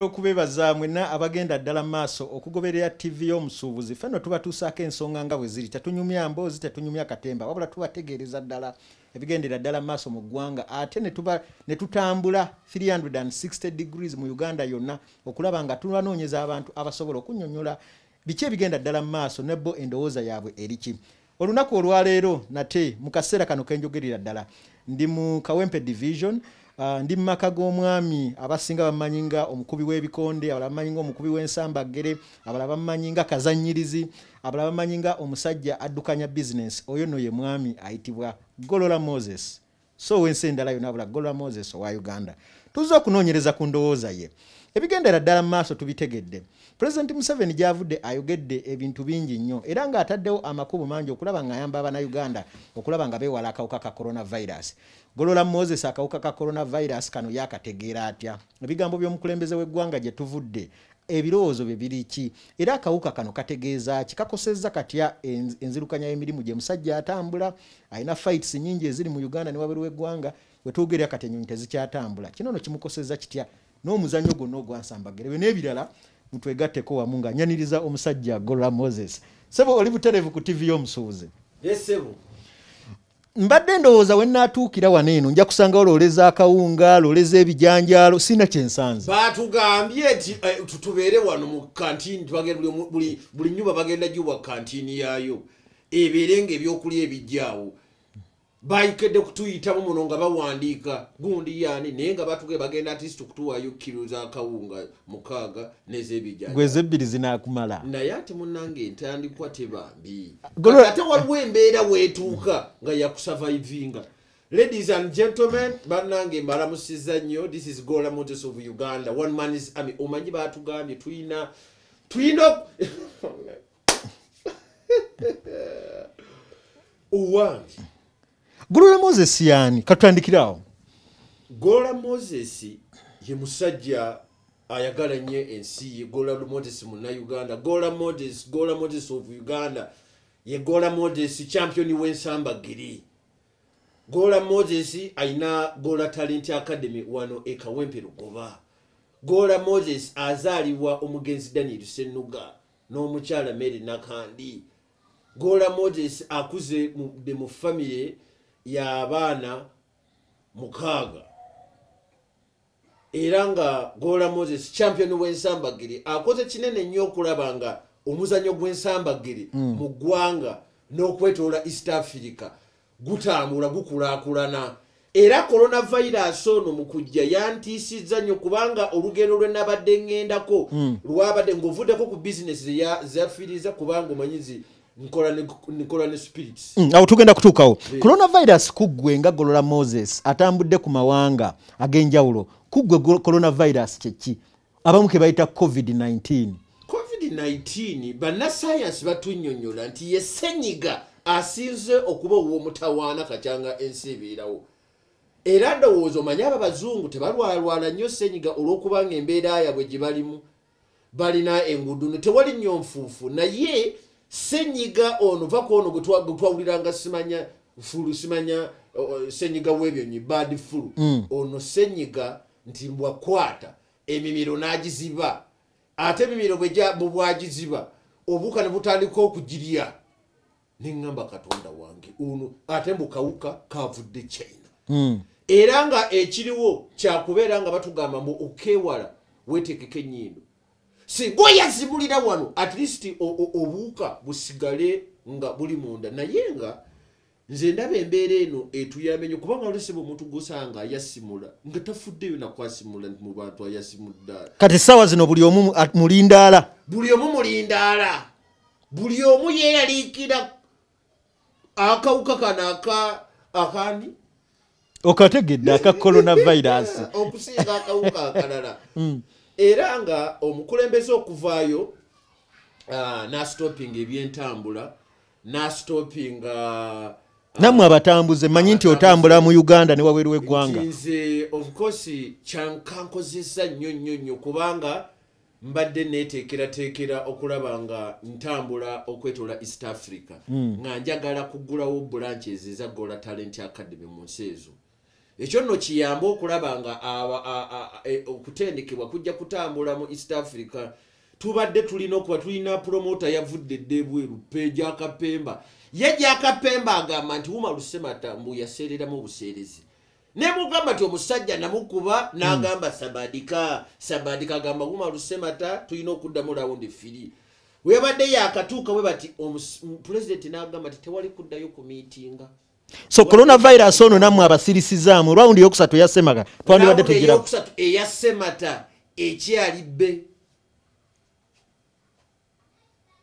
okubebaza mwena abagenda ddala maaso okugoberera ttivi y'omusuubuzi ffe no tubatuusaako ensonga nga bwe ziri tetunyumya mboozi tetunyumya katemba wabula tubategeereza ddala ebigendera ddala maaso mu ggwanga ate ne tutambula 360 degrees mu uganda yonna okulaba nga tubanoonyeza abantu abasobola okunyonyola Biki ebigenda ddala mu maaso ne bo endowooza yaabwe eri ki? Olunaku olwaleero nate mu kaseera kano ke njogerera ddala ndi mu Kawempe Division uh, ndi mu maka g'omwami abasinga bammanyi nga omukubi w'ebikonde abalala bammanyi nga omukubi w'ensambaggere abalala bammanyi nga kazannyirizi abalala bammanyi nga omusajja addukanya bizinensi oyo no ye mwami ayitibwa Golola Moses. so wensi endala yona bula golwa moses owa uganda tuzze okunoonyereza ku ndowooza ye ebigendera ddala mu maaso tubitegedde pulezidenti museveni gyavudde ayogedde ebintu bingi nnyo era ng'ataddewo amakubo mangi okulaba ng'ayamba abanauganda okulaba nga beewala akawuka ka coronavirus golola moses akawuka ka coronavirus kano yakategeera atya ebigambo by'omukulembeze w'eggwanga gye tuvudde ebirowoozo bye biri ki era akawuka kano kategeeza ki kakosezza katya enzirukanya y'emirimu gye musajja atambula alina fights nyingi eziri mu uganda ne waberi w'eggwanga wetwogerera kati enyonyi tezikyatambula kino no kimukosezza kitya n'omuzannyo gwonna ogwansambagere byo n'ebirala mutwegatteko wamu nga nyaniriza omusajja gola moses sebo oli buterevu ku ttivi y'omusuubuzi mbadde ndowooza we natuukira wano eno nja kusangawo loleza akawunga loleza ebijanjaalo sina kyensanze batugambye nti eh, tubeere wano mu kantini buli nyumba bagenda giwa kantini yaayo ebeere nga ebyokulya ebijjaawo bayikedde kutuyitamu muno nga bawandiika gundi yaani naye nga batuge bagenda atist kutuwayo kiro zakawunga mukaaga nezebijanjabi gwe ezebbiri zinakumala naye ate munange entandikwa teba mbi ate waliwo embeera weetuuka nga yakusavaivinga ladies and gentlemen banange mbalamusiza nnyo this is gola motos of uganda one man is ami omanyi batugambye tuyina tuyina owange golola moses yani katutandikire awo golola moses ye musajja ayagala nnyo ensi ye golola moses munauganda golola moses golola moses of uganda ye golola moses champion w'ensamba giri golola moses alina golola talent academy wano ekawempe lugoba golola moses azaalibwa omugenzi daniel senuga n'omukyala mary nakandi gola moses akuze de mu famire yabaana mukaaga era nga gola moses champion wensambagiri akoze kinene nnyo okulaba nga omuzanyo gwensambagiri mm. mu ggwanga n'okwetoola east africa gutambula gukulaakulana era coronavirus ono mu kujja yantiisizza nnyo kubanga olugendo lwe nabadde ŋŋendako hmm. lwabadde ng'ovuddeko ku bizinesi zeyafiiriza kubanga omanyizi nkola ne spirits hmm, awo tugenda kutuukawo eh. coronavirus kuggwe nga golola moses atambudde ku mawanga ag'enjawulo kuggwe coronavirus kyeki abamu kebayita covid-19 covid-19 banasayansi batunyonyola nti ye senyiga asinze okuba owomutawaana kakyanga ensi ebeerawo era ndowooza omanye abo abazungu tebalwalwala nnyo senyiga olwokuba nga embeera yabwe gye balimu balina enguudo no tewali nnyo nfuufu naye senyiga ono va kwono gwetwawuliranga simanya fulu simanya senyiga webyonyi bad fulu mm. ono senyiga nti mbwakwata emimiro n'agiziba ate emimiro bwebwagiziba obuuka ne butandika okugirya neŋŋamba katonda wange ono ate mbukawuka kavudde china hmm. era nga ekiriwo kyakubeera nga batugamba mbu okewala wetekeko enyindo singa oyazibulira wano at least obuuka busigale nga buli munda naye nga nze ndaba embeera eno etuyambye nyo kubanga wali sebo omuntu gwosanga ayasimula nga tafuddeyo nakwasimula nti mu bantu ayasimudde kati essaawa zino buli omu mulindaala buli omu mulindaala buli omu yeeyaliikira akawuka kano aka akandi okategedde aka coronavirus okusinga akawuka akalala mm. era nga omukulembeze okuvaayo ah, nastopinga ebyentambula nastopinga uh, namwe abatambuze manyi nti otambula mu uganda ne wabweru w'eggwanga nze ofcourse kyankankozesa nnyo nnyo nnyo kubanga mbadde neteekerateekera okulaba nga ntambula okwetola east africa hmm. nga njagala kugulawo branches eza gola talent academy mu nsi ezo ekyo nno kiyambe okulaba nga e, okutendekebwa kujja kutambula mu east africa tubadde tulina okuba tulina promota yavudde dda ebweru pejakapemba ye jakapemba agamba nti wuma lusemata mbu yaseereramu obuseerezi nemugamba ti omusajja namukuba hmm. nagamba sabadika sabadika agamba wuma lusemata tulina okuddamu lawundi firi webadde yakatuuka we bati pulezidenti nagamba ti tewali kuddayo ku miitinga so coronavirus ono namwe abasirisizaamu rawundi yokusatu eyasemata twandibadde tugiyokusatu eyasemata ekyali bbe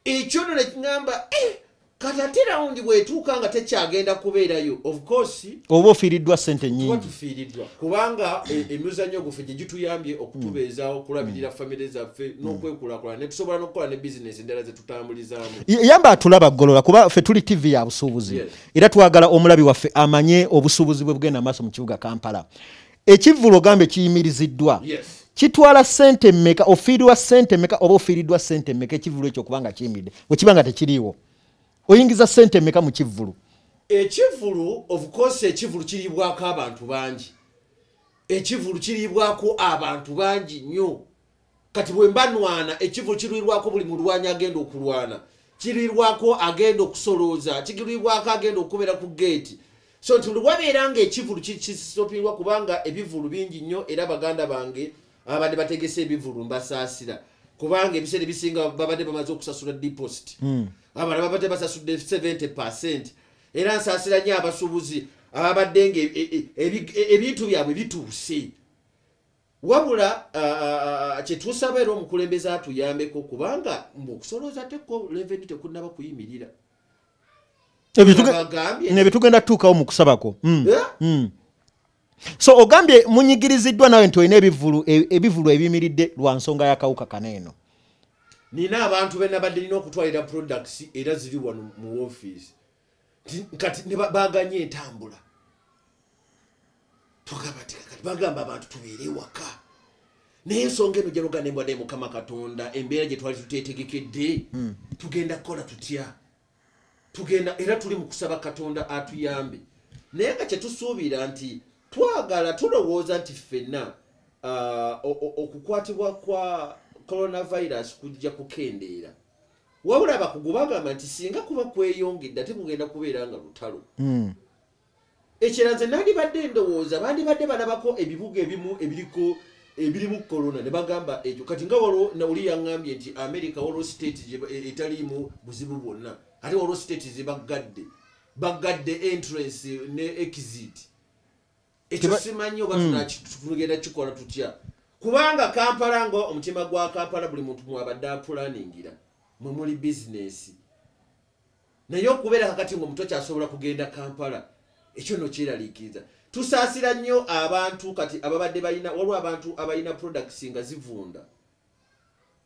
ekyo no nekigamba eh, kati ate rawundi bwetuuka nga tekyagenda kubeerayo ofcourse oba ofiiriddwa sente nyingitufiiriddwa kubanga e, emizannyo guffe gye gituyambye okutubeezaawo mm. okulabirira mm. famire zaffe mm. n'okwekulakulana netusobola n'okukola ne bizinesi endala zetutambulizaamu yamba atulaba golola kuba ffe tuli tivi ya busuubuzi era twagala omulabi waffe amanye obusuubuzi bwe bugenda maaso mu kibuga kampala ekivvulu ogambe kiyimiriziddwa kitwala sente meka ofiirirwa sente meka oba ofiiriddwa sente meka ekivvulu ekyo okuba nga kiyimiridde wekiba nga tekiriiwo oyingiza sente meka mu kivvulu ekivvulu ofukosi ekivvulu kiriibwako abantu bangi ekivvulu kiriibwako abantu bangi nnyo kati bwemba nwana ekivulu kirwirwako buli mulwanyi agenda okulwana kirwirwako agenda okusolooza kigirwirwako agenda okubeera ku geeti so nti luwabeera nga ekivulu kisopirwa kubanga ebivulu bingi nnyo era baganda bange ababadde bategese ebivulu mbasaasira kubanga ebiseera ebisinga babadde bamaze okusasula deposit hmm. abana babadde basasudde 70 percent era nsaasira nnyo abasuubuzi ababadde nga e, e, e, ebintu byabwe bituuse wabula kyetusaba era omukulembeze atuyambeko kubanga mbu okusolooza teko leveni tekunaba kuyimirira nebitugenda tutuukawo mu kusabako hmm. Eh? Hmm. so ogambye munyigiriziddwa nawe nti olina ebivulu e, ebivulu ebiyimiridde lwa nsonga yakawuka kana eno nina abantu benabadde nina okutwalira products era ziri wano mu ofiisi kati baganye entambula bagamba abantu tubeere ewaka naye ensonga eno gyalugana embwa naye mukama katonda embeera gye twali tuteetegekedde hmm. tugenda kukola tutya tugenda era tuli mu kusaba katonda atuyambe naye nga kyetusuubira nti twagala tulowooza nti ffenna uh, okukwatibwa kwa coronavirus kujja kukendeera wabula abakugu bagamba nti singa kuba kweyongedde ate kugenda kubeera nga lutalo hmm. ekirala nze nandibadde endowooza bandibadde balabako ebibuga ebimu ebiriko ebirimu corona ne bagamba ekyo kati nga waliwo nauli yaŋambye nti america waliwo state e, etaliimu buzibu bwonna ate waliwo state zebaggadde baggadde entrance ne exit ekyo simanyi oba hmm. tugenda kikola tutya kubanga kampala nga omutima gwa kampala buli muntu mwabadde apulaningira mwe muli bizinesi naye okubeera kakati nga omuto kyasobola kugenda kampala ekyo no kyeraliikiriza tusaasira nnyo abantu kati ababadde balina waliwo abantu abalina products nga zivunda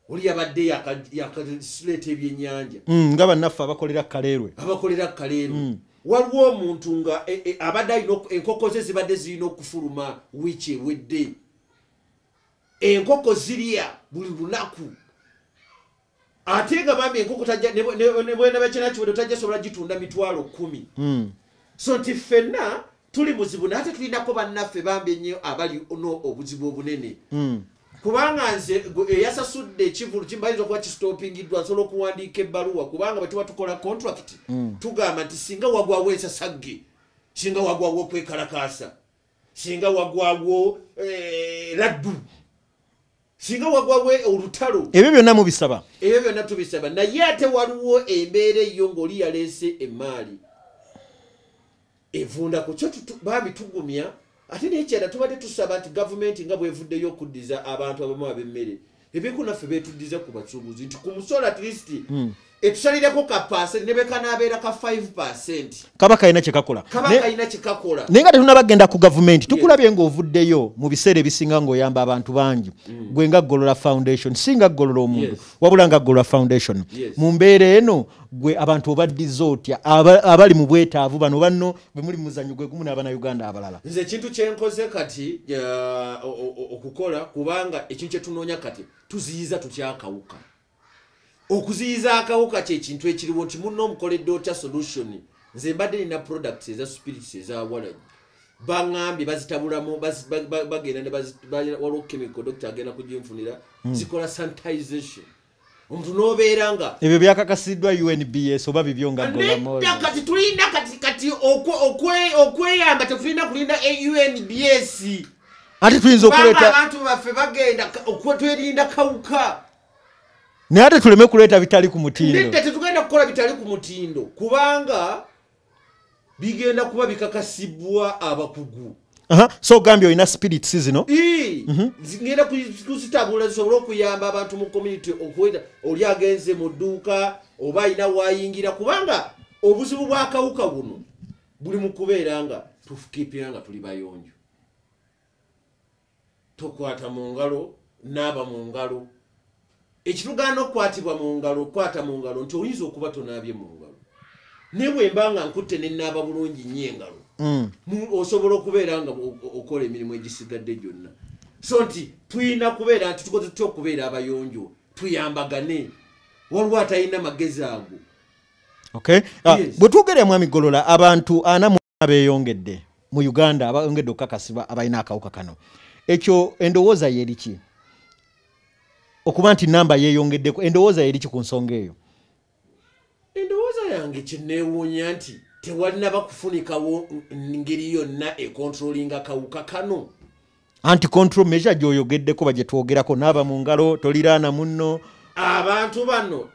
oli yabadde yakaleeta ebyenyanja mm, nga bannaffe abakolera kaleerwe abakolera kaleerwe mm. waliwo omuntu nga e, e, abadde alina enkoko ze zibadde zirina okufuluma wiiki ewedde enkoko zirya buli lunaku ate nga bambi enkoko nebwenabakyinakiwedo tajja sobola gitunda mitwalo kumi hmm. so nti ffenna tuli muzibu naye ate tulinako bannaffe bambi ennyo abali no obuzibu obunene hmm. kubanga nze eyasasudde ekivulu kimubayinza okuba kistopingiddwa nsobola okuwandiika ebbaluwa kubanga bwetuba tukola contract hmm. tugamba nti singa wagwawo ensasagge singa wagwawo okwekalakaasa singa wagwawo eh, laddu singa wagwawo olutalo ebyo byonna mubisaba ebyo byonna tubisaba naye ate waliwo embeera eyo ng'oli yaleese emaali evunda ku kyo bambi tugumya ate nekyala tubadde tusaba nti gavumenti nga bwevuddeyo okuddiza abantu abamu ab'emmere ebiko naffe betuddiza ku basuubuzi nti ku musolo at least hmm. etusalireko ka pasenti ne bwekanaabeera ka 5 pasenti kaba kalina kyekakola kaba kalina kyekakola naye nga tetunaba genda ku gavumenti tukulabye ng'ovuddeyo mu biseera ebisinga ng'oyamba abantu bangi mm. gwe nga ggolola foundation si nga ggolola omuntu wabula nga ggolola foundation mu mbeera eno gwe abantu obaddiza otya abali mu bwetaavu bano banno bwe muli muzanyo gwe gumu n'abana uganda abalala nze ekintu kyenkoze kati okukola kubanga ekintu kyetunoonya kati tuziyiza tutyakawuka okuziyiza akawuka kyekintu ekiriwo nti munna omukoledde otya solution nze mbadde nina products eza spirits ezawalanyi baŋambye bazitabulamu bagenda waliwo chemical doctor agenda kuginfunira hmm. zikola sanitization omuntu nobeera nga ebyo byakakasiddwa unbs oba bibyo nga kati tulina kati kati okweyamba tetulina kulinda unbs ate tuyinza okuleeta abantu baffe bagenda okwetwerinda kawuka naye ate tuleme kuleeta bitali ku mutindo tetugenda kukola bitali ku mutindo kubanga bigenda kuba bikakasibwa abakugu so ogambye olina spirits zino mhm. ngenda kuzitabula zisobole okuyamba abantu mu community okuweta oli agenze mu dduuka oba alina wayingira kubanga obuzibu bwakawuka buno buli mu kubeera nga tufukiipira nga tuli bayonjo tokwata mu ngalo naaba mu ngalo ekitugaana okukwatibwa mu ngalo okukwata mu ngalo nti oyinza okuba tonaabye mu ngalo naye bwemba nga nkutte nenaaba bulungi nnyo engalo mm. osobola okubeera nga okola emirimu egisigadde gyonna so nti tulina kubeera nti tukoze tutya okubeera abayonjo tuyambagane waliwo atalina magezi ago ah, bwe twogera mwami golola abantu ana abeyongedde mu uganda abayongedde okukakasibwa abalina akawuka kano ekyo endowooza yeriki okuba nti namba yeyongeddeko endowooza yeriki ku nsonga eyo endowooza yange kyenewuunya nti tewalina bakufunikawo ngeri yonna ekontrolinga kawuka kano anti control measure gyoyogeddeko bagyetwogerako naaba mu ngalo toliraana munno abantu bano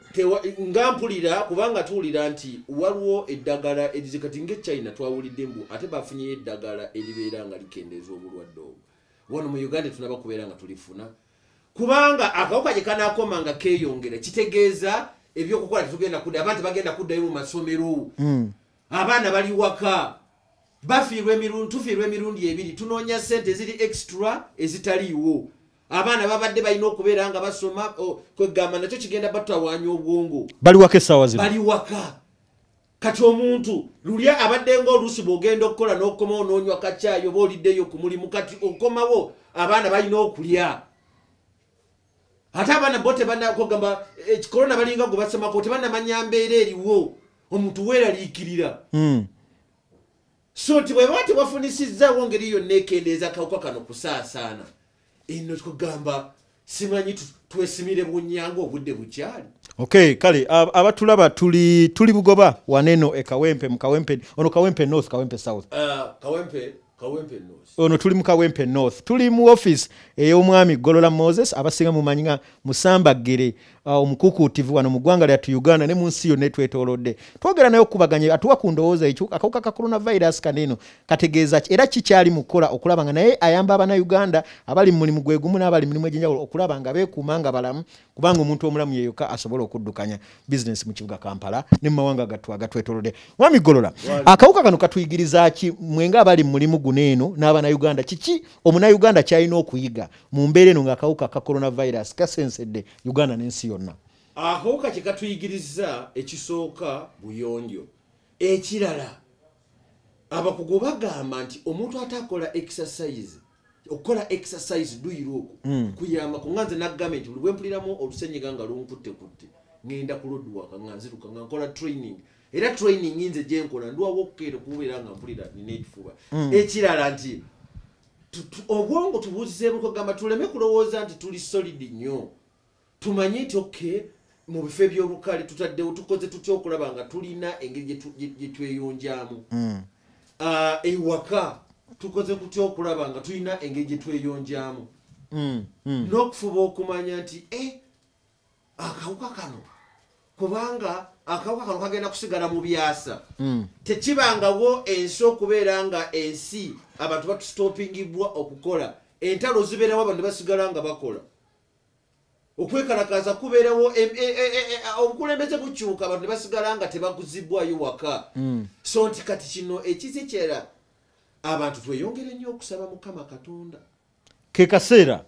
nga mpulira kubanga tuwulira nti waliwo eddagala erizikati nga echina twawulidde mbu ate bafunyeyo eddagala eribeera nga likendeeza obulwadde obwo wano mu uganda tunaba kubeera nga tulifuna kubanga akawuka gye kanakoma nga keeyongera kitegeeza ebyokukola tetugenda kudda abantu bagenda kuddayo mu masomero hmm. abaana bali waka bafiirwa emirundi tufiirwa emirundi ebiri tunoonya ssente eziri extra ezitaliiwo abaana babadde balina okubeera nga basoma kwegamba nakyo kigenda batawanya obwongo bali waka essaawa zino bali waka kati omuntu luli abadde ngaoluusi bwogenda okukola n'okukomawo n'onywa kakyayi oba oliddeyo ku mulimu kati okomawo abaana balina okulya ate abaana bo tebanakogamba eh, korona balinga gwe basemako tebanamanya mbeera eriwo omuntu weeraliikirira hmm. so nti bwebaba tebafunisizzawo ngeri yonna ekendeeza kawuka kano kusaasaana eno kugamba simanyi twesimire bunyanga obudde bukyali okay kale abatulaba tuli tuli bugoba waneno e kawempe mu kawempe ono kawempe north kawempe south uh, kawempe ono tuli mu kawempe north tuli mu office ey'omwami golola moses abasinga mumanyi nga musamba ggere uh, omukukuutivu wano mu ggwanga lyattu uganda ne mu nsi yonna etwetolodde twogera naye okubaganya atuwa ku ndowooza ekyo akawuka ka coronavirus kaneno kategeeza ki era kikyali mu kukola okulaba nga naye ayamba abana uganda abali mu mulimu gwegumu n'abali mulimu egyenjawulo okulaba nga beekuuma nga balamu kubanga omuntu omulamu yeyoka asobola okuddukanya bizinesi mu kibuga kampala ne mumawanga gattu agatwetolode mwami golola akawuka kano katuyigiriza ki mwenga abali mu mulimu guno eno n'abanauganda kiki omunauganda kyalina okuyiga mu mbeera eno ng'akawuka ka coronavirus kasensedde uganda n'ensi yonna akawuka kye katuyigiriza ekisooka buyonjo ekirala abakugu bagamba nti omuntu ate akola exercise okukola exercise duyira oku hmm. kuyamba ku nganze nagambye nti buli bwempuliramu olusenyiga nga lunkutte kutte ngenda ku lodwaka nga nziruka nga nkola training era training nze gyenkola ndwawo okukeera okubeera nga mpulira nina ekifuba hmm. ekirala nti obwongo tubuzeebuko gamba tuleme kulowooza nti tuli solid nnyo tumanye nti ok mu bifo ebyolukale tutaddewo tukoze tutya okulaba nga tulina engeri gyetweyonjamu hmm. ah, ewaka tukoze kutya okulaba nga tulina engeri gyetweyonjamu hmm, hmm. n'okufuba okumanya nti e akawuka kano kubanga akawuka kano kagenda kusigala mu byasa tekibangawo ensi okubeera nga ensi abantu batustopingibwa okukola entalo zibeerawo abantu basigala nga bakola okwekalakaasa kubeerawo obukulembeze bukyuka abantu ne basigala nga tebaguzibwayo waka hmm. so nti kati kino ekizi kyera abantu tweyongere nnyo okusaba mukama katonda ke kaseera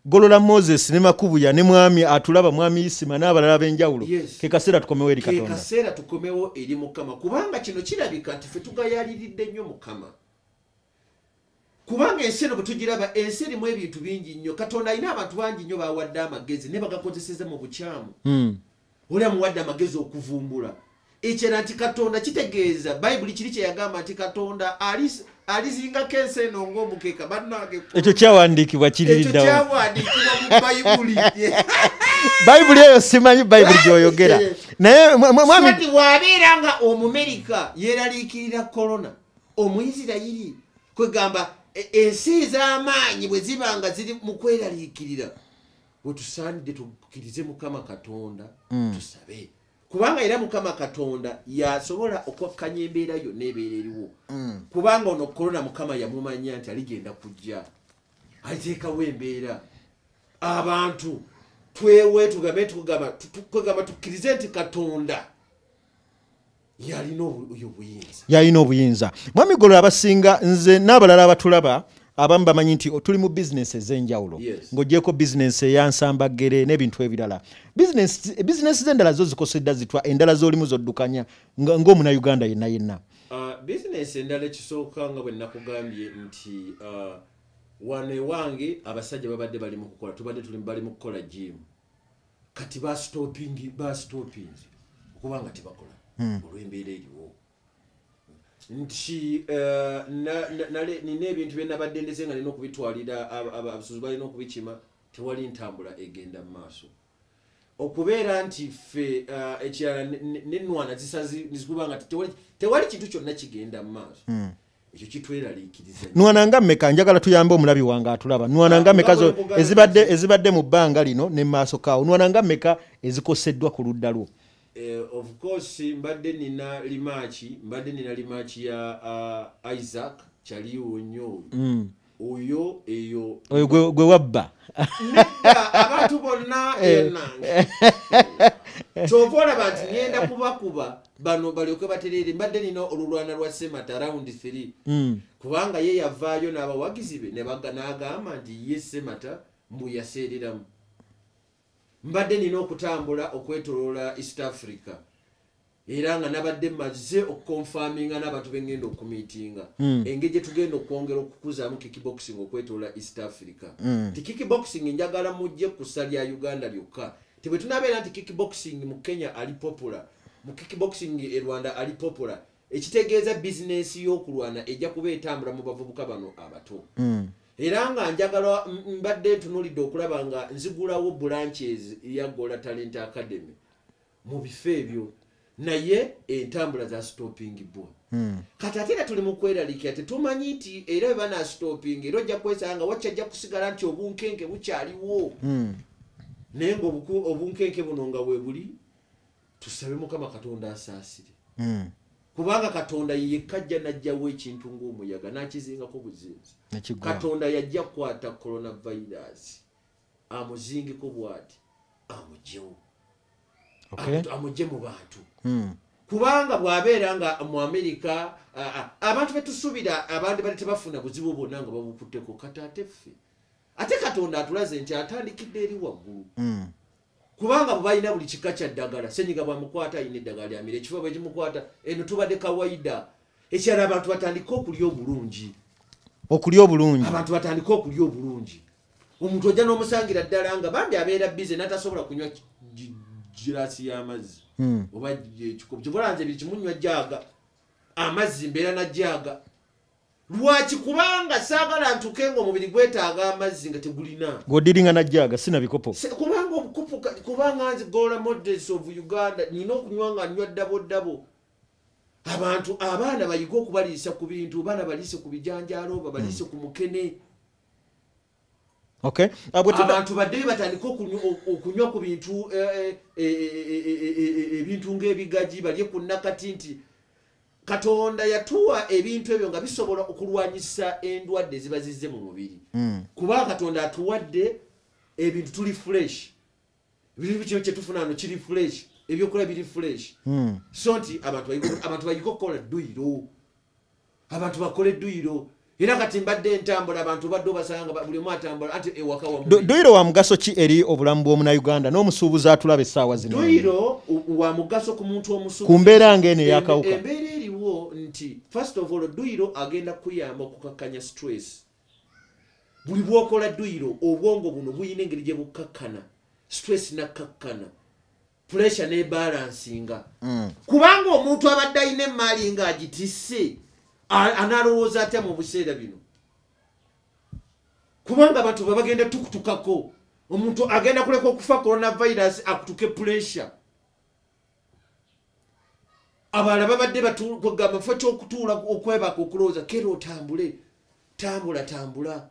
golola moses ne makubuya ne mwami atulaba mwami isima n'abalala ab'enjawulo ke kaseera tukomewo eri katonda kaseera tukomewo eri mukama kubanga kino kirabika nti fe tugayaliridde nnyo mukama kubanga ensi eno bwetugiraba ensi erimu ebintu bingi nnyo katonda alina abantu bangi nnyo bawadde amagezi naye bagakozeseza mu bukyamu hmm. oli amuwadde amagezi okuvumbula ekyera nti katonda kitegeeza bayibuli kiri kyeyagamba nti katonda alizingako ensi eno ngaomukeeka bannange ekyo kyawandiikibwa kiririddawoekyawandiikibwa mu bayibuli bayibuli eyo simanyi bayibuli gyoyogera naye mwami wabeera nga omumerika yeraliikirira korona omuisirayiri kwegamba e, ensi ez'amaanyi bwe ziba nga ziri mu kweraliikirira wetusaanidde tukkirize mukama katonda mm. tusabe kubanga era mukama katonda yasobola okwakkanya embeera yonna ebeera eriwo mm. kubanga ono korona mukama yamumanya nti aligenda kujja ateekawo embeera abantu twewe tugambe tukugamba tukkirize nti katonda yalina obuyinza mwami golo abasinga nze n'abalala abatulaba abamu bamanyi nti tuli mu bizinesi ez'enjawulo ng'ogyeko bizinesi eyansambaggere n'ebintu ebirala bizinesi z'endala zo zikosedda zitwa endala z'olimu zoddukanya ng'omuna uganda yenna yenna uh, bizinesi endala ekisooka nga bwe nakugambye nti uh, wano ewange abasajja babadde bali mu kukola tubadde tuli bali mu kukola jiimu kati bastopingi bastopingi okuba nga tebakola hmm. olwembeera eriwo nti eh, nina ebintu byenabadde ndeze nga nina okubitwalira abasuzi balina okubikima tewali ntambula egenda mu maaso okubeera nti ffe eh, ekirala nenwana zisazikuba nga tewali kintu kyonna kigenda mu maaso hmm. ekyo kitweraliikiriza nwana nga mmeka njagala tuyambe omulabi wange atulaba nwana nga mmeka ezibadde ezibadde mu bbanga lino ne maaso kaawo nwana nga mmeka ezikoseddwa ku ludda lwo eh, of course mbadde nina limaaki mbadde nina limaaki ya uh, isaac kyaliwo nnyo oyo mm. oyo eyo oyo gwe wabba abantu bonna eh. enange kyova olaba nti ngenda kubakuba bano balyoke batereere mbadde nina olulwana lwa semata round 3 hmm. kubanga ye yavaayo n'abawagizi be n'agamba nti ye semata mbu yaseereramu mbadde nina okutambula okwetoloola east africa era nga nabadde mazze okukonfaminga n'abantu bengenda okumitinga hmm. engeri gyetugenda okwongera okukuzaamu kickboxing okwetoola east africa hmm. ti kickboxing njagala mujje kusa lya uganda lyokka ti bwe tunabeera nti kickboxing mu kenya ali popula mu kickboxing e rwanda ali popula ekitegeeza bizinensi y'okulwana ejja kuba etambula mu bavubuka bano abato hmm. era nga njagala mbadde ntunulidde okulaba nga nzigulawo branches ya gola talent academy mu bifo ebyo naye entambula za stopping bo hmm. kati ate era tuli mu kweralikira tetumanyi nti era bwe bana stopping era ojja kwesanga nga wakyajja kusigala nti obunkenke bukyaliwo hmm. naye nga obunkenke buno nga webuli tusabe mukama katonda asaasire mm. kubanga katonda yekka ajja najjawo ekintu ngaomuyaga nakizingako buzinzi katonda yajja kukwata coronavirus amuzingiko bwati amugyewo amugye mu bantu hmm. kubanga bwabeera nga mu amerika abantu betusubira abandi bali tebafuna buzibu bwonna nga babukutteko kataate ffe ate katonda atulaze nti atandikidde eri waggulu hmm. kubanga bwebalina buli kika kya ddagala senyiga bwamukwata alina eddagala lyamira ekifuba bwekimukwata eno tubadde kawaida ekirala abantu batandika okulya obulungi okulya obulungi abantu batandika okulya obulungi omuntu ojja n'omusangira ddala nga bambi abeera bize natasobola kunywa girasi y'amazzi hmm. oba ekikobo kyobola nze biri kimunywa jaaga amazzi mbeera na jaaga lwaki kubanga saagala ntuke nga omubiri gwetaaga amazzi nga tegulina ng'odiringa najjaaga sina bikopo kubanga obukopo kubanga nze gola models of uganda nina okunywa nga nywa ddabo ddabo abantu abaana bayige okubaliisa ku bintu baana baliise ku bijanjaalo babaliise ku mukene mm. abantu badde bebatandika okunywa ku bintu ebintu ngaebigaji balye ku nakati nti katonda yatuwa ebintu ebyo nga bisobola okulwanyisa endwadde ziba zizze mu mubiri hmm. kuba katonda atuwadde ebintu tuli fresh birimu kino kyetufunano kiri fresh ebyokola biri fresh hmm. so nti abantu bayige okukola duyiro abantu bakole duyiro era kati mbadde entambula abantu obadde obasanga buli omu atambula ati ewaka wa duyiro wa mugaso ki eri obulamu bw'omunauganda n'omusuubuzi atulaba essaawa zino duyiro wa mugaso ku muntu omusuubuzi ku mbeera ng'eno eyakawuka embeera eriwo nti first of all duyiro agenda kukuyamba okukakkanya stress buli bwokola duyiro obwongo buno buyina engeri gye bukkakkana stress nakkakkana puresha nebalansinga mm. kubanga omuntu abadde alina emaali nga agitisse analowooza atya mu buseera bino kubanga abantu babagenda tukutukako omuntu agenda kuleka okufa coronavirus akutuke puresha abalala babadde batugamba fa kyokutuula okwebaka okulowooza kera otambule tambula tambula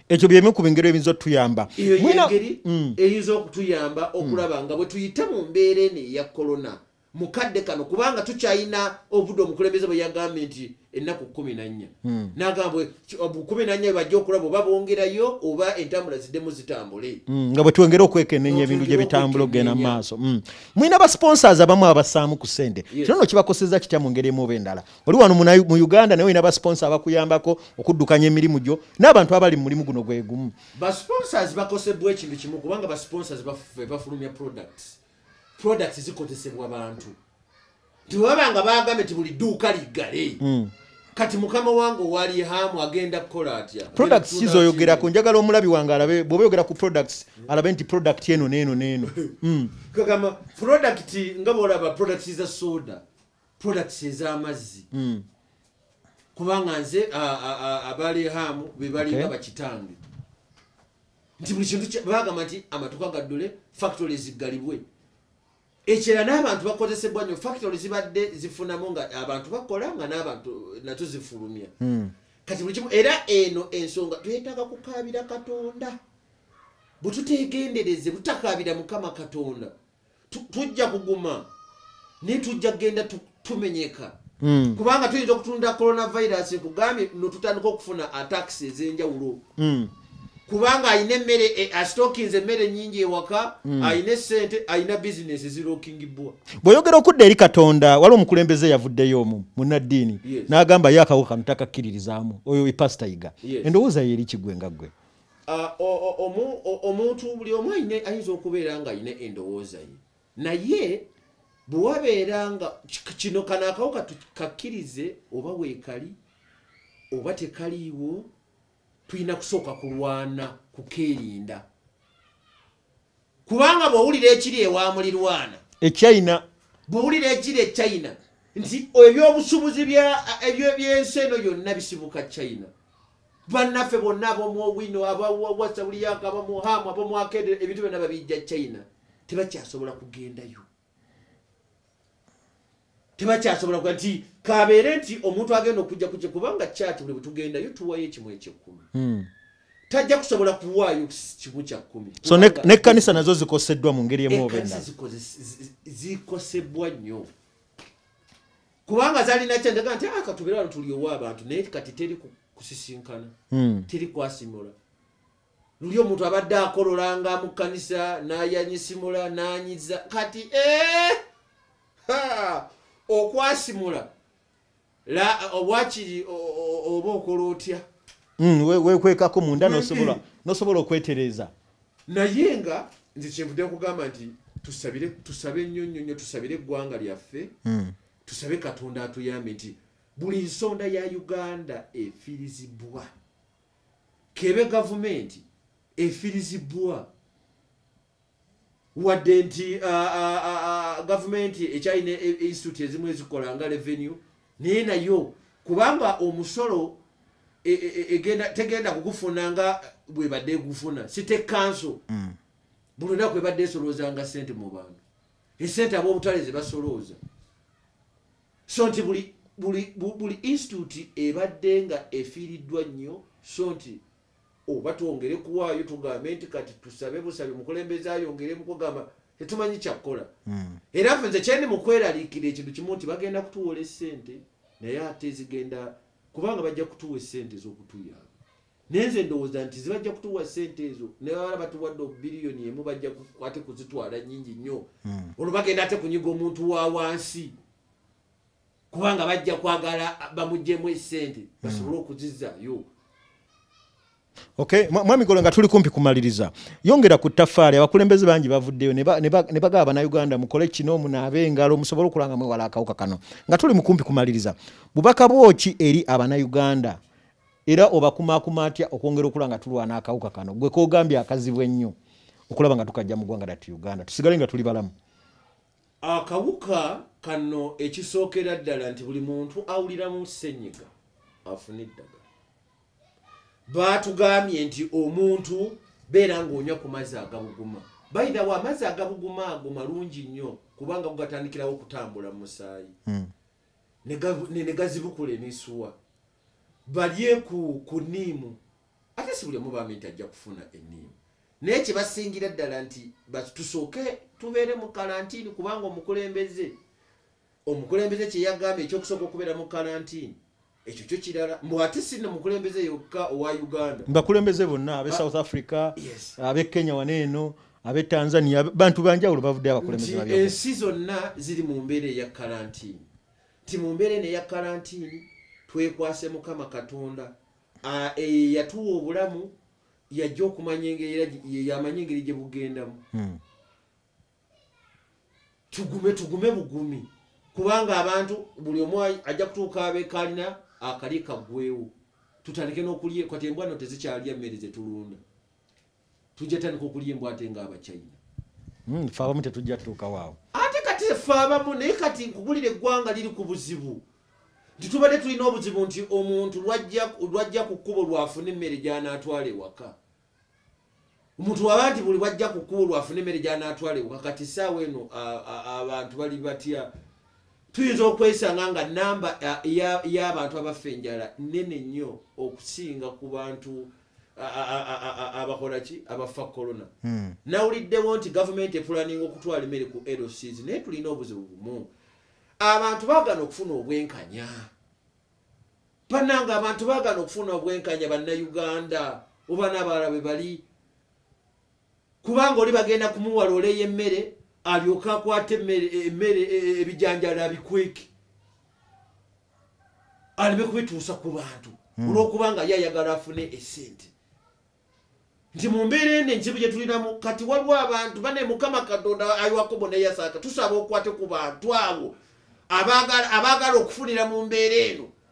ekyo byemu ku bingeri ebiyinza otuyamba eyo yengeri mm. eyinza okutuyamba mm. okulaba nga bwe tuyite mu mbeera eno eya kolona mu kadde kano kubanga tukyalina obudde omukulembeze bwe yagambye nti ennaku kumi nannya mm. nagamba kumi nannya bebajja okulaba oba bongerayo oba entambula ziddemu zitambule nga bwe twengera okwekenenya ebintu gye bitambula okugenda mu maaso mulina ba sponsors abamu abasaamu ku sente kino no kibakoseza kitya mu ngeri emu oba endala oli wano mu uganda naye olina basponsa abakuyambako okuddukanya emirimu gyo n'abantu abali mu mulimu guno gwegumu basponsors bakosebwa ekintu kimu kubanga basponsors bafulumya products products zikozesebwa bantu tewaba nga bagambe ti buli dduuka liggale hmm. kati mukama wange owali hamu agenda kukola atya products kizoyogerako njagala omulabi wange alabe bwoba oyogera ku products alabe nti product eno neeno neeno hmm. kagamba product nga bwolaba product za soda products ez'amazzi mm. kubanga nze abalehaamu bebalinga okay. bakitange nti buli kintu bagamba nti amatuka gaddule factory ziggalibwe ekyera n'abantu bakozesebwa nyo factory zibadde zifunamu nga abantu bakola nga n'abantu nato zifulumya hmm. kati buli kimu era eno ensonga twetaaga kukaabira katonda bwetutegendereze butakaabira mukama katonda tujja kuguma naye tujja kugenda tumenyeka hmm. kubanga tuyinza okutunda coronavirus nkugambye notutandika okufuna atax ezenjawulo hmm. kubanga alina emmere eh, asitokinze emmere nyingi ewaka hmm. alina esente alina bizinesi zirokingibbwa bweyogera okudda eri katonda waliwo omukulembeze yavuddeyo omu munaddiini n'agamba ye akawuka kano takakkiririzaamu oyo epasita yiga endowooza ye eri kigwe nga ggwe Ah, omuntu buli omu ayina ayinza okubeera nga ayina endowooza ye naye bwewabeera nga kino kano akawuka tukakkirize oba weekali oba tekaliiwo tulina kusooka kulwana kukeerinda kubanga bwowulira ekiri ewa mulirwana echina bwowulira ekiri echina nti ebyobusubuzi ebyensi eno yonna bisibuka china bannaffe bonna abomwowino abawasawuliyaka abamuhamu abomwakedere ebintu byonna babijja china tebakyasobola kugendayo tebakyasobola kuga nti kabeere nti omuntu agenda okujja kukye kubanga kyaki buli bwetugendayo tuwayo ekimu ekyekkumi hmm. tajja kusobola kuwaayo kimu kyakkumi so nekkanisa nazo zikoseddwa mu ngeri emuzikosebwa nnyo kubanga zalina kyendaga nti ah, katubere wano tuliowa abantu naye kati teri kusisinkana hmm. teri kwasimula luli omuntu abadde akololanga mu kkanisa nayanyisimula nanyiza kati eh! okwasimula wakiri oba okola otya hmm, wekwekako munda nosobola okwetereza naye nga nze kyenvude kugamba nti tusabe nnyo nnyo nnyo tusabire eggwanga lyaffe hmm. tusabe katonda atuyambe nti buli nsonda ya uganda efirizibwa kebe gavumenti efirizibwa wadde nti gavumenti ekyalina e, e, institute ezimu ezikola nga revenue naye nayo kubanga omusolo e, tegenda kugufuna nga bwebadde egufuna site kanso mm. buli lunaku ebadde esolooza nga sente mu bantu esente ab'obutale zebasolooza so nti buli buli buli institute ebadde nga efiiriddwa nnyo so nti oba twongere kuwaayo tugambe nti kati tusabe busabe mukulembeze ayongere mukugamba tetumanyi kyakukola hmm. era ffe nze kyendi mukweraliikira ekintu kimu nti bagenda kutuwola esente naye ate zigenda kubanga bajja kutuwa esente ez'okutuyamba naye nze ndowooza nti zibajja kutuwa sente ezo naye bala batuwadde obubiliyoni emu bajja ate kuzitwala nyingi nnyo hmm. olwo bagenda ate kunyiga omuntu wa wansi kubanga bajja kwagala bamugjemu esente hmm. basobole okuzizayo Okay, mwami golo nga tuli kumpi kumaliriza. Yongera ku tafari abakulembeze bangi bavuddeyo ne baga abana Uganda mukole kino munabe ngalo musobolo kulanga mwe wala akawuka kano. Nga tuli mukumpi kumaliriza. Bubaka bwoki eri abana Uganda era obakumakuma atya okwongera okula nga tulwana akawuka kano gwe kogambye akazibu ennyo okulaba nga tukajja mu gwanga dati uganda tusigale nga tuli balamu akawuka kano ekisookera ddala nti buli muntu awuliramu senyiga afuna eddagala baatugambye nti omuntu beera ng'onywa ku mazzi agabuguma bayidhawo amazzi agabuguma ago malungi nnyo kubanga gugatandikirawo okutambula mu musaayi hmm. ne gazibukula emisuwa balye ku ku niimu ate si buli omu bambi nti ajja kufuna eniimu naye kyebasingira ddala nti tusooke tubeere mu kalantiini kubanga omukulembeze omukulembeze kyeyagamba ekyokusooka okubeera mu kalantiini ekyo kyo kirala mbu ate si no mukulembeze yokka owa uganda bakulembeze bonna abe south africa abe kenya wana eno abe tanzania bantu banjawulo bavudde abakulembeze ensi zonna ziri mu mbeera eya kalantiini ti mu mbeera eno eya kalantiini twekwase mukama katonda eye yatuwa obulamu yajja okumanya engeriyamanyi engeri gye bugendamu hmm. tugume tugume bugumi kubanga abantu buli omu ajja kutuuka abekalina akali kaggwewo tutandike nokulye kati embwano tezikyalya mmere zetulunda tujja tandika okulya embwa ate nga abachina hmm, fe abamu tetujja tutuukawo awo ate kati fe abamu naye kati nkugulira eggwanga liri ku buzibu nti tubadde tulina obuzibu nti omuntu lwajja ku kkubo lwafuna emmere gyanaatwala ewaka omuntu waba nti buli bwajja ku kkubo lwafuna emmere gyanaatwala ewaka kati saawa eno abantu bali batya tuyinza okwesanga nga namba y'abantu abafa enjala nene nnyo okusinga ku bantu abakola ki abafa corona hmm. nawuliddewo nti gavumenti epulaninga okutwala emmere ku lcs naye tulina obuzibu bumu abantu bagana okufuna obwenkanya bananga abantu bagana okufuna obwenkanya bannauganda oba nabalala bwe bali kubanga oli bagenda kumuwa loole y'emmere alyoke akwate emmere e, e, ebijanjalo abikweke aleme kubituusa ku bantu hmm. olwokubanga ye ayagala afune esente nti mu mbeera eno enkibu gye tulinamu kati waliwo abantu bane mukama katonda ayiwakobo neyasaaka tusaba okwate ku bantu abo abaagala okufunira mu mbeera eno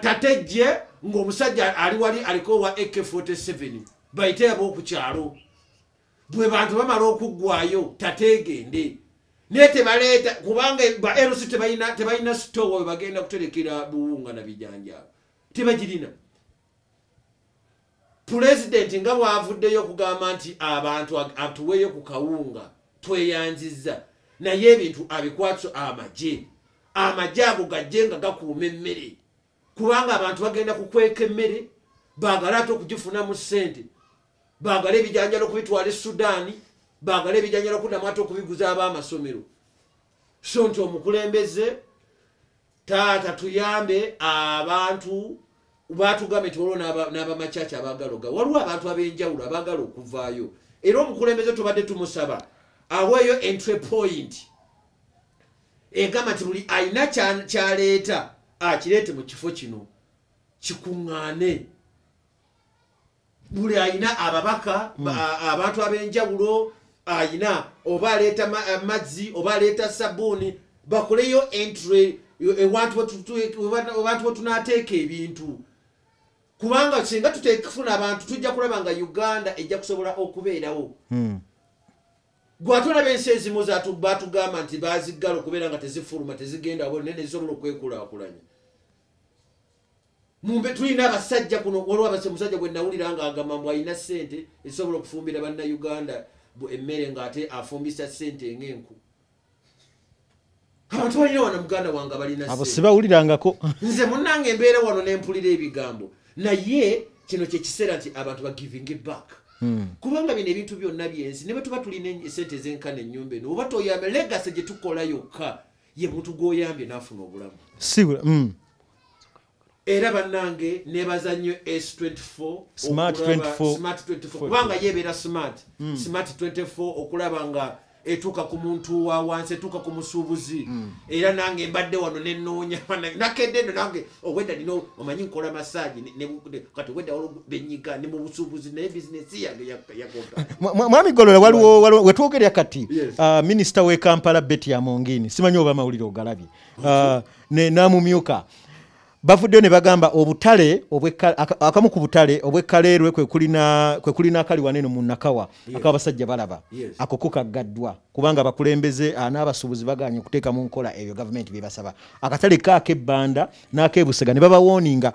tatejje ng'omusajja ali wali aliko owa ak47 bayite aba okukyalo bwe bantu bamala okuggwayo tateegende naye tebaleeta kubanga ba lc tebalina sitowa we bagenda kuterekera buwunga na bijanjaalo tebagirina pulezidenti nga bwavuddeyo okugamba nti abantu atuweeyo ku kawunga tweyanzizza naye ebintu abikwatso amagye amagye ago gajje nga gakuuma emmere kubanga abantu bagenda kukweka emmere baagale ate okugifunamu ssente baagale ebijanjalo okubitwala e sudaani baagale ebijanjalo okuddamu ate okubiguza ab'amasomero so nti omukulembeze taata tuyambe abantu batugambe tiwaliwo n'abamacaci abagaloga waliwo abantu ab'enjawulo abagala okuvaayo era omukulembeze tubadde tumusaba aweeyo entry point egamba nti buli alina kyaleeta akireete mu kifo kino kikuŋŋaane buli ayina ababaka hmm. abantu abenjawulo ayina oba aleeta eh, mazzi oba aleeta sabuuni bakoleyo entry ewantu wetunateeka ebintu kubanga singa tutekufuna abantu tujja kulaba nga uganda ejja kusobola okubeerawo hmm. gwatulaba ensi ezimu batugamba nti baziggala okubeera nga tezifuluma tezigenda bo naye nezisobola okwekulakulanya mumbe tulina abasajja kuno waliwo abasa omusajja gwe nawulira nga agamba mbu alina sente ezisobola okufumbira banna uganda emmere ngaate afumbisa sente ngaenku abantu balina wana muganda wange balinaabo sibawulirangako nze munange embeera wano nempulira ebigambo naye kino kyekiseera nti abantu bagivinge back hmm. kubanga bino ebintu byonna byensi ne bwetuba tulina esente ezenkana enyumba eno oba toyambe legase gyetukola yokka ye muntu gwoyambye nafuna obulamu sibula mm. era banange nebaza nnyo s24kubanga yebeera smart mm. smart 24 okulaba nga etuuka ku muntu wa wansi etuuka ku musuubuzi mm. era nange mbadde wano nenoonya nakedde eno nange obwedda nina omanyi nkola masaji kati obwedda benyiga ne mu busuubuzi naye bizinesi yange yagoga mwami golola waliwo wetwogerera kati uh, minisita w'e kampala beti amongini simanyi oba amawulire ogalabye uh, namumyuka bavuddeyo ne bagamba obutale akamu ku butale obwekaleerwe kwekulina akali waneno mu nakawa ako abasajja balaba ako kukaggaddwa kubanga abakulembeze ah, n'abasuubuzi baganye okuteeka mu nkola ebyo gavumenti byebasaba akatale kaako ebbanda n'akebusega ne babawooninga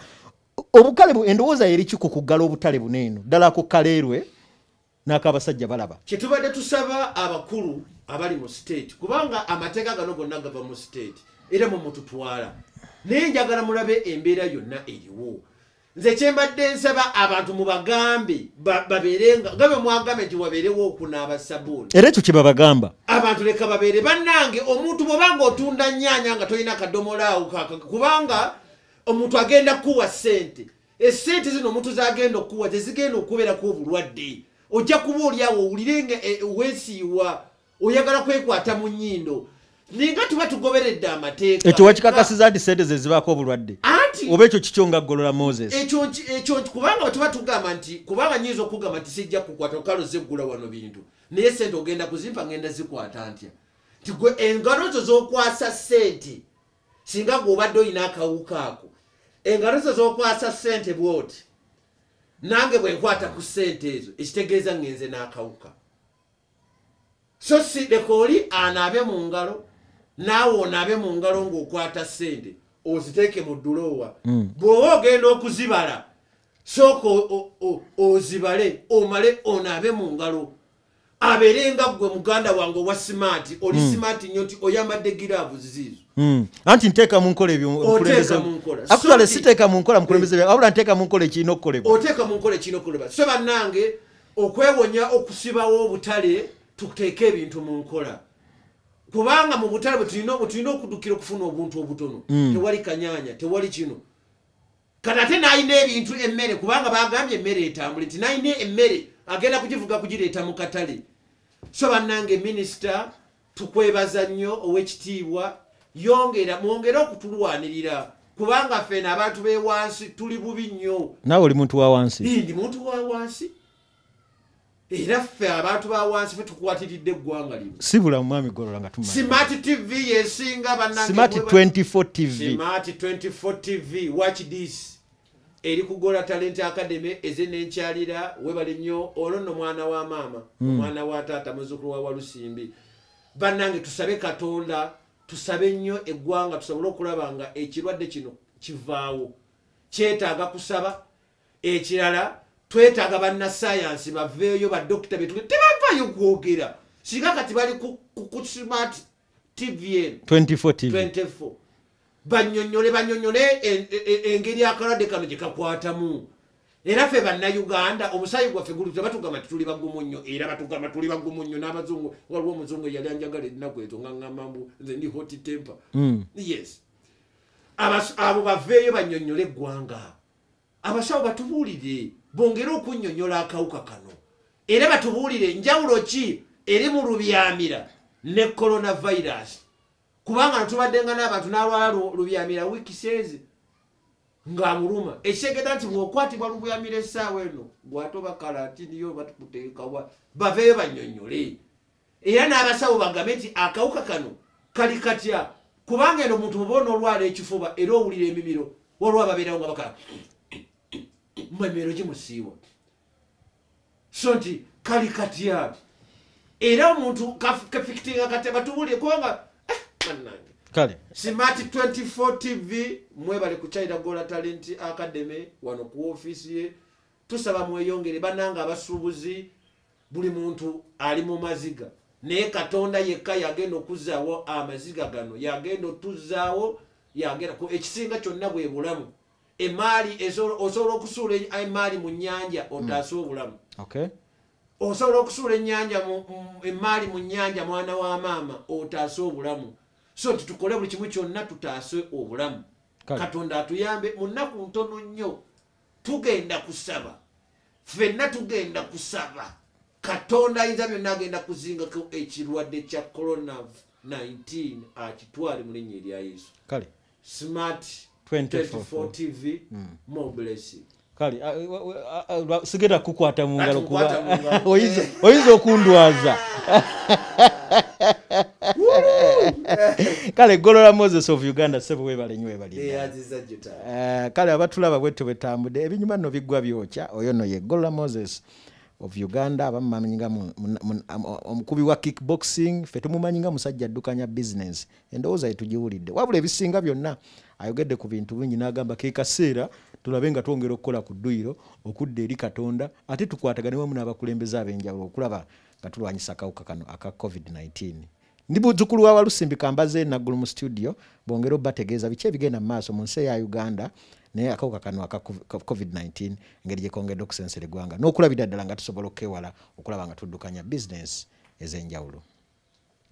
obukale endowooza yeriki ku kuggala obutale buno eno ddala ku kaleerwe n'akabasajja balaba kyetubadde tusaba abakulu abali mu state kubanga amateeka gano gonna gava mu state era mumututwala naye njagala mulabe embeera yonna eriwo nze kyembadde nsaba abantu mubagambe babeerenga nga bwe mwagambe nti wabeerewo okunaaba sabuuni era ekyo kyebabagamba abantu leka babeere bannange omuntu bwoba nga otunda nyaanya nga tolina kadomolaawo kubanga omuntu agenda kukuwa ssente esente zino omuntu zagenda okukuwa tezigenda okubeerako obulwadde ojja kuba olyawo owulire nga e, wesiiwa oyagala kwekwata mu nyindo ninga tuba tugoberedde amateeka ekyo wakikakasiza nti sente zezibaako obulwadde anti oba ekyo kikyo nga golola moses ekyo kubanga wetuba tugamba nti kubanga nyinza okugamba nti sijja kukwata okalo zeggula wano bintu naye sente ogenda kuzimpa ngenda zikwata ntya nti gwe engalo zo zokwasa sente singa gwe obadde olina akawuka ako engalo zo zokwasa sente bwoti nange bwenkwata ku sente ezo ekitegeeza ngenze n'akawuka so si leka oli anaabe mu ngalo naawe onaabe mu ngalo ng'okwata ssente oziteeke mu dduloowa hmm. bw'oba ogenda okuzibala sooka ozibale omale onaabe mu ngalo abeere nga ggwe muganda wange owa simaati oli hmm. simaati nnyo nti oyambadde giraavu ziziizo Hmm. anti nteeka mu nkola ebyoakuale siteeka mu nkola mukulembeze wabula nteeka mu nkola ekirina okukolebwa oteeka mu nkola ekirina okukolebwa so bannange okwewonya okusibawo obutale tuteeke ebintu mu nkola kubanga mu butale bwetulina bwetulina okudukira okufuna obuntu obutono mm. tewali kanyanya tewali kino kati ate nalina ebintu emmere kubanga bagambye emmere etambule nti nalina emmere agenda kugivuga kugireeta mu katale so bannange minisita tukwebaza nnyo owekitiibwa yongera mwongere okutulwanirira kubanga fena abantu bewansi tuli bubi nnyo nawe oli muntu wawansi ndi muntu wawansi era ffe abantu bawansi fe tukwatiridde eggwanga lino sibula mumwami golola nga tumasmart tv yesinga banangesmart 24 tv smart 24 tv watch this eri ku gola talent academy eze nenkyalira webale nnyo ono no mwana wa maama hmm. omwana wa taata muzukulu wa walusimbi bannange tusabe katonda tusabe nnyo eggwanga tusobole okulaba nga ekirwadde kino kivaawo kyetaaga kusaba ekirala twetaaga bannasayansi baveeyo badokita betuli tebavayo kwogera singa kati bali ku smart tvn24 banyonyole banyonyole engeri akalwadde kano gyekakwatamu era fe bannayuganda omusaayi gwaffe guli tebatugamba nti tuli bagumu nnyo era batugamba tuli bagumu nnyo n'abazungu waliwo omuzungu eyali anjagala ennaku ezo nga ŋamambu nze ndi hot temper hmm. yes abo baveeyo banyonyole eggwanga abasawo batubuulire bongere okunnyonnyola akawuka kano era batubuulire enjawulo ki eri mu lubyamira ne coronavirus kubanga natubaddenga n'abantu n'alwala lubyamira wiiki seezi ng'amuluma ekitegeda nti bw'okwatibwa lubyamira essaawa eno gwatoba kalatiniyo batukuteekawa baveeyo bannyonnyole era n'abasawo bagambe nti akawuka kano kali katya kubanga eno omuntu oba onoolwala ekifuba era owulira emimiro waliwo ababeerawo nga bakala mu emimiro gimusiiwa so nti kali katya era omuntu kafikitinga katya batubulire kubanga eh, banange kale smart 24 tv mwebale ku china gola talent academy wano ku ofiisi ye tusaba mweyongere bananga abasuubuzi buli muntu ali mu maziga naye katonda yekka yagenda okuzaawo amaziga gano yagenda otuzaawo yagenda ekisinga kyonna bwe bulamu emaali osobola okusuula e, emaali mu nyanja otaase hmm. obulamu osobola okusuula enyanja emaali mu nyanja mwana wa maama otaase obulamu so nti tukole buli kimu kyonna tutaase obulamu katonda atuyambe mu nnaku ntono nnyo tugenda kusaba fenna tugenda kusaba katonda ayinza byonna agenda kuzingako ekirwadde kya corona 19 akitwale mu linnya erya yesu kale smart 24 tv mm. more blessing kale sigenda kukwata mu ngalo kuba oyinza okundwaza kale golola moses of uganda sebo webale nyo webali Eh, kale abatulaba bwetyo bwetambudde ebinyuma no biggwa byokya oyo no ye gola moses of uganda abamumanyi nga omukubi wa kickboxing fe tumumanyi nga musajja addukanya bizinensi endowooza yetugiwulidde wabula ebisinga byonna ayogedde ku bintu bingi n'agamba ke kaseera tulabe nga twongera okukola ku dduyiro okudda eri katonda ate tukwatagane wamu n'abakulembeze ab'enjawulo okulaba nga tulwanyisa akawuka kano aka covid-19 ndi muzukulu wa walusimbi kambaze naggulu mu studio bongere obategeeza biki ebigenda mu maaso mu nsi eya uganda naye akawuka kano aka covid-19 engeri gyekongedde okusensera eggwanga n'okulabira ddala nga tusobola okukewala okulaba nga tuddukanya bizinesi ez'enjawulo